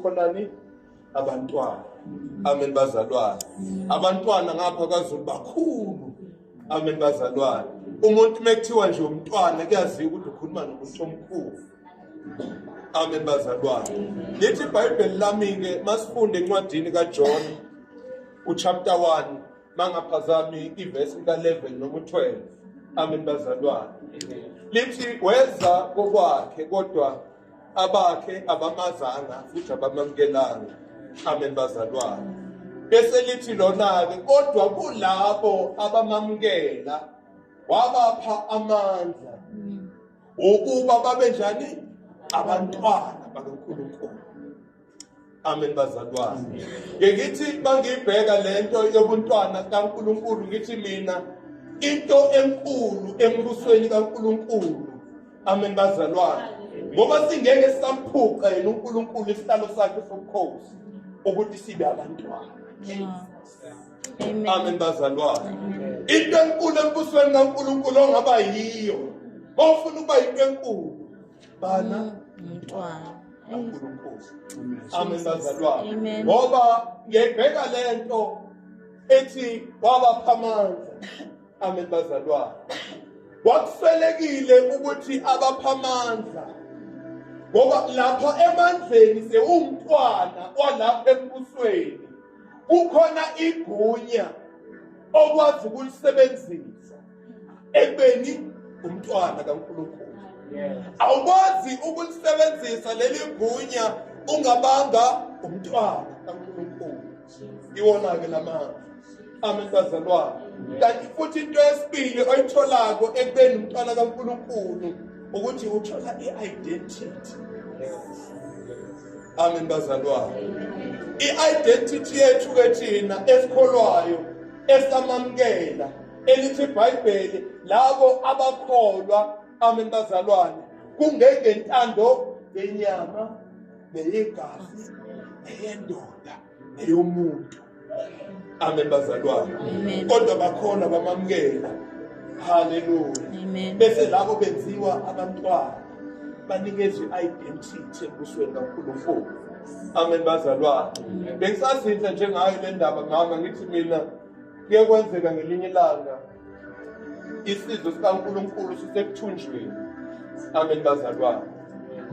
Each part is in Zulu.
khonani abantwana amen bazalwane abantwana ngapha kwaZulu bakhulu amen bazalwane umuntu mekuthiwa nje umntwana kuyaziwa ukuthi ukhuluma nomuntu omkhulu amen bazalwane lithi ibhayibheli lami-ke masifunde encwadini kajohn uchapter 1 mangaphazami ivesi ka-11 noma u-12 amen bazalwane lithi weza kokwakhe kodwa abakhe abamazanga futhi abamamukelanga amen bazalwane bese lithi lona-ke kodwa kulabo abamamukela wabapha amandla ukuba babe njani abantwana bakankulunkulu amen bazalwane ke ngithi bangibheka lento yobuntwana kaNkuluNkulu ngithi mina into enkulu embusweni kaNkuluNkulu amen bazalwane ngoba singeke samphuqa yena uNkuluNkulu isihlalo sakhe sobukhosi ukuthi sibe abantwana amen bazalwane into enkulu embusweni kaNkuluNkulu ongaba yiyo ofuna ukuba into enkulu bana mntwana amen bazalwane ngoba ngiyayibheka le nto ethi wabapha amandla amen bazalwane wakufelekile ukuthi abapha amandla ngoba lapha emandleni sewumntwana walapha embusweni kukhona igunya okwazi ukulisebenzisa ekubeni umntwana kaNkulunkulu awukwazi ukulisebenzisa leli gunya ungabanga umntwana kaNkulunkulu iwona-ke la manje amen bazalwane kanti futhi into yesibili oyitholako ekubeni umntwana kaNkulunkulu ukuthi uthola i-identity amen bazalwane i-identity yethu-ke thina esikholwayo esamamukela elithi ibhayibheli labo abakholwa amen bazalwane kungengentando yenyama neyegazi neyendoda neyomuntu amen bazalwane kodwa bakhona bamamukela haleluya bese labo benziwa abantwana banikezwe i-identity embusweni kankulunkulu amen bazalwane bengisazinhle njengayo le ndaba mama ngithi mina kuye kwenzeka ngelinye ilanga isizwe sikaNkulunkulu sisekuthunjweni amen bazalwane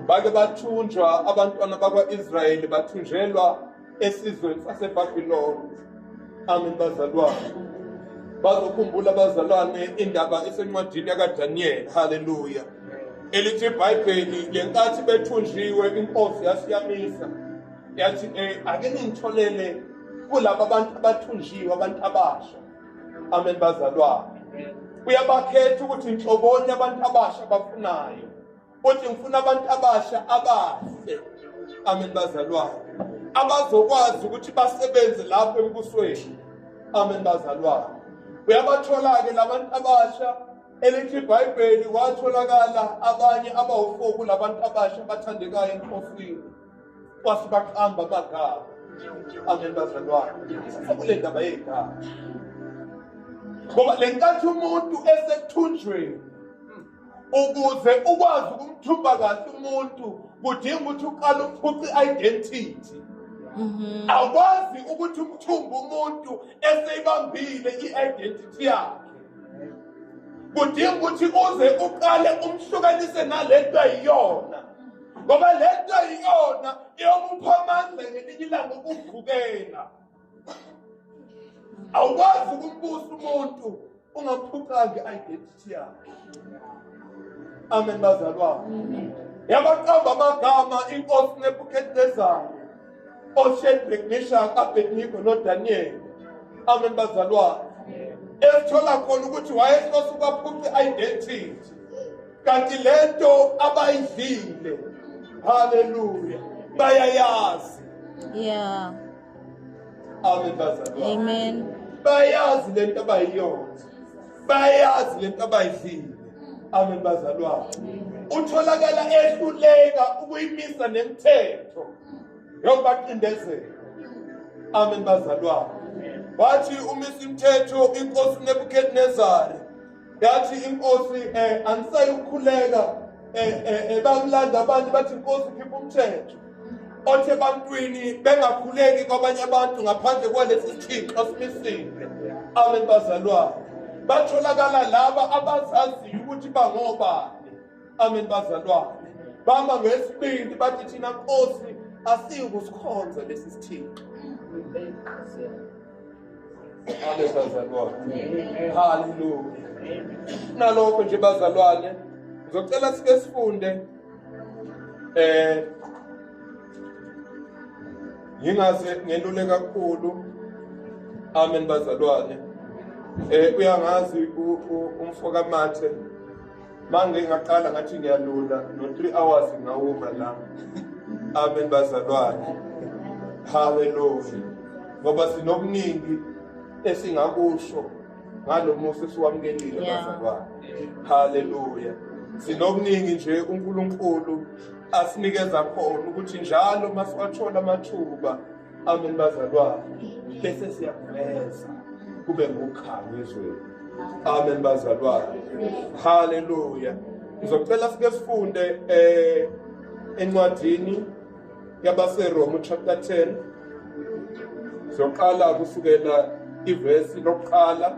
bake bathunjwa abantwana bakwa-israyeli bathunjelwa esizweni sasebhabhiloni amen bazalwane bazokhumbula abazalwane indaba esencwadini yakadaniyeli haleluya elithi ibhayibheli ngenkathi bethunjiwe inkosi yasiyamisa yathi um ake ningitholele kulaba bantu abathunjiwe abantu abasha amen bazalwane uyabakhetha ukuthi nhloboni abantu abasha bafunayo uthi ngifuna abantu abasha abahle amen bazalwane abazokwazi ukuthi basebenze lapho embusweni amen bazalwane uyabathola-ke labantu abasha elithi ibhayibheli watholakala abanye abawufoku labantu abasha bathandekayo enkosini kwase baqamba amagama angeni bazalwane sekule ndaba yey'gama ngoba le nkathi umuntu esethunjweni ukuze ukwazi ukumthumba kahle umuntu kudinga ukuthi uqale uphuce i-identity mhm. awukwazi ukuthi umthumbe umuntu eseyibambile i-identity yakhe kudinga ukuthi uze uqale umhlukanise nalento ayiyona ngoba le nto iyona eyomupha amandla ngelinye ilanga ukuvukela awukwazi ukumbusa umuntu ungamphucanga i-identity yakhe amen bazalwane yabaqamba amagama inkosi nebukhetezana oshedrick mishak abednigo nodaniyeli amen bazalwane esithola khona ukuthi wayehlose ukwaphuca i-identity kanti lento abayidlile haleluya bayayazi yeah amen bayazi lento abayiyona bayazi lento abayidlile amen bazalwane utholakala ehluleka ukuyimisa nemthetho yokubaqindezela amen bazalwane wathi umisa imthetho inkosi nebukadnezari yathi inkosi eh angisayi ukukhuleka eh, eh, eh bakulanda abantu bathi inkosi khipha umthetho othi ebantwini bengakhuleki kwabanye abantu ngaphandle kwalesi sithixo simisile amen bazalwane batholakala laba abazaziyo ukuthi bangobani amen bazalwane bama ngesibindi bathi thina nkosi asiyukusikhonza lesi sithixo Amen bazalwane. Hallelujah. Nalokho nje bazalwane ngizocela sike sifunde eh ngingaze ngelule kakhulu amen bazalwane eh uyangazi umfoka mathe Mange ngaqala ngathi ngiyalula no 3 hours ngawuma la. Amen bazalwane. Hallelujah. Ngoba sinokuningi esingakusho ngalomusa esiwamukelile bazalwane. Hallelujah. Sinokuningi nje uNkulunkulu asinikeza khona ukuthi njalo masiwathola amathuba Amen bazalwane. Bese siyakuveza kube ngokukhala ezweni. Amen bazalwane. Hallelujah. Ngizocela sike sifunde eh encwadini yabaseRoma chapter 10 soqala kusukela ivesi lokuqala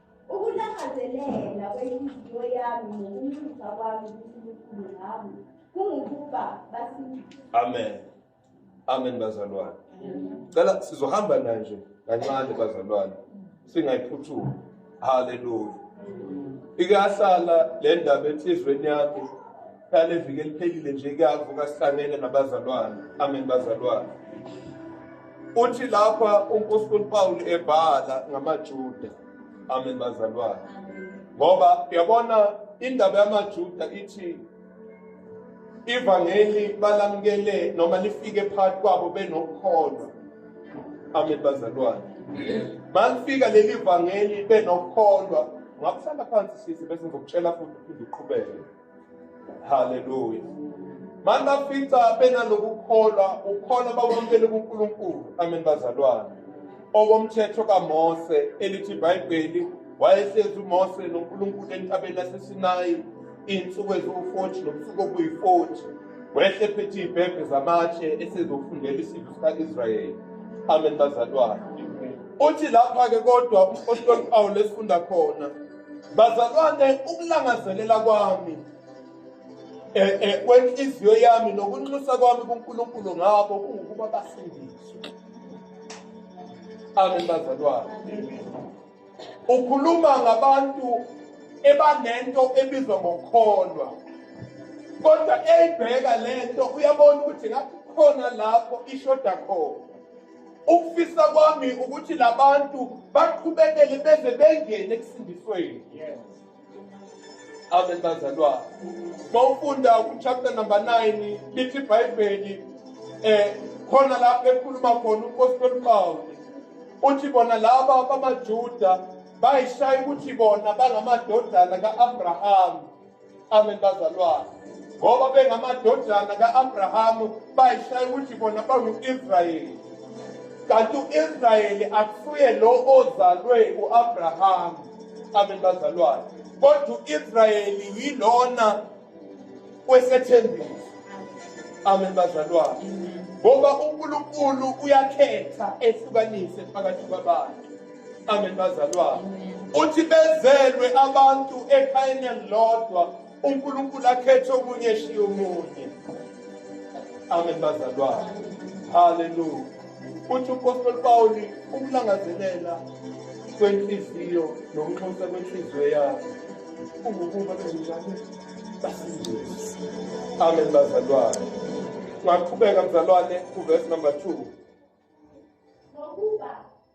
Ukulangazelela kwenhliziyo yami nokunxusa kwami kuNkulunkulu ngami kungukuba basindiswe. Amen. Amen bazalwane. Cela sizohamba nanje kancane bazalwane. Singayiphuthumi. Hallelujah. Ikahlala le ndaba enhlizweni yakhe Kale viki eliphelile nje kuyavuka sihlangene nabazalwane. Amen bazalwane. Uthi lapha uNkulunkulu Paul ebhala ngamaJuda. Amen bazalwane. Ngoba uyabona indaba yamaJuda ithi ivangeli balamukele noma lifike phakathi kwabo benokukholwa amen bazalwane malifika leli vangeli benokukholwa ngakusala phansi sisi bese ngizokutshela futhi uphinde uqhubeke haleluya mani bafica benalokukholwa ukholwa bakwamukele kunkulunkulu amen bazalwane okomthetho kamose elithi ibhayibheli wayehlezi umose nonkulunkulu entabeni yasesinayi iy'nsuku eziwu-forty nobusuku obuyi-forty wehle phethe iy'bhebhe zamatshe esezofundela isidlo sika-israyeli amen bazalwane uthi lapha-ke kodwa umphostoli pawulo esifunda khona Bazalwane, ukulangazelela kwami eh, eh, kwenhliziyo yami nokunxusa kwami kuNkulunkulu ngabo kungukuba basindiswe. Amen bazalwane. Ukhuluma ngabantu ebanento ebizwa ngokholwa. Kodwa eyibheka lento uyabona ukuthi ngathi khona lapho ishoda khona. ukufisa kwami ukuthi labantu baqhubekele beze bengene ekusindisweni yes amen bazalwane mawufunda uchapter number 9 lithi ibhayibheli eh khona lapho ekhuluma khona umpostoli Pawulu uthi bona laba bamaJuda bayishaya ukuthi bona bangamadodana kaAbraham Amen bazalwane. Ngoba bengamadodana ka-Abrahamu bayishaya ukuthi bona bangu-Israyeli. Kanti u-Israyeli akusuye lo ozalwe u-Abrahamu. Amen bazalwane. Kodwa u-Israyeli yilona kwesethembiso. Amen bazalwane. Ngoba uNkulunkulu uyakhetha ehlukanise phakathi kwabantu. amen bazalwane uthi bezelwe abantu ekhayeni elilodwa unkulunkulu akhethe omunye eshiye omunye amen bazalwane haleluya uthi upostoli pawuli ukulangazelela kwenhliziyo nokunxusa kwenhliziyo yakhe kungukuba benjalo basindise amen bazalwane ngaqhubeka mzalwane kuvesi number two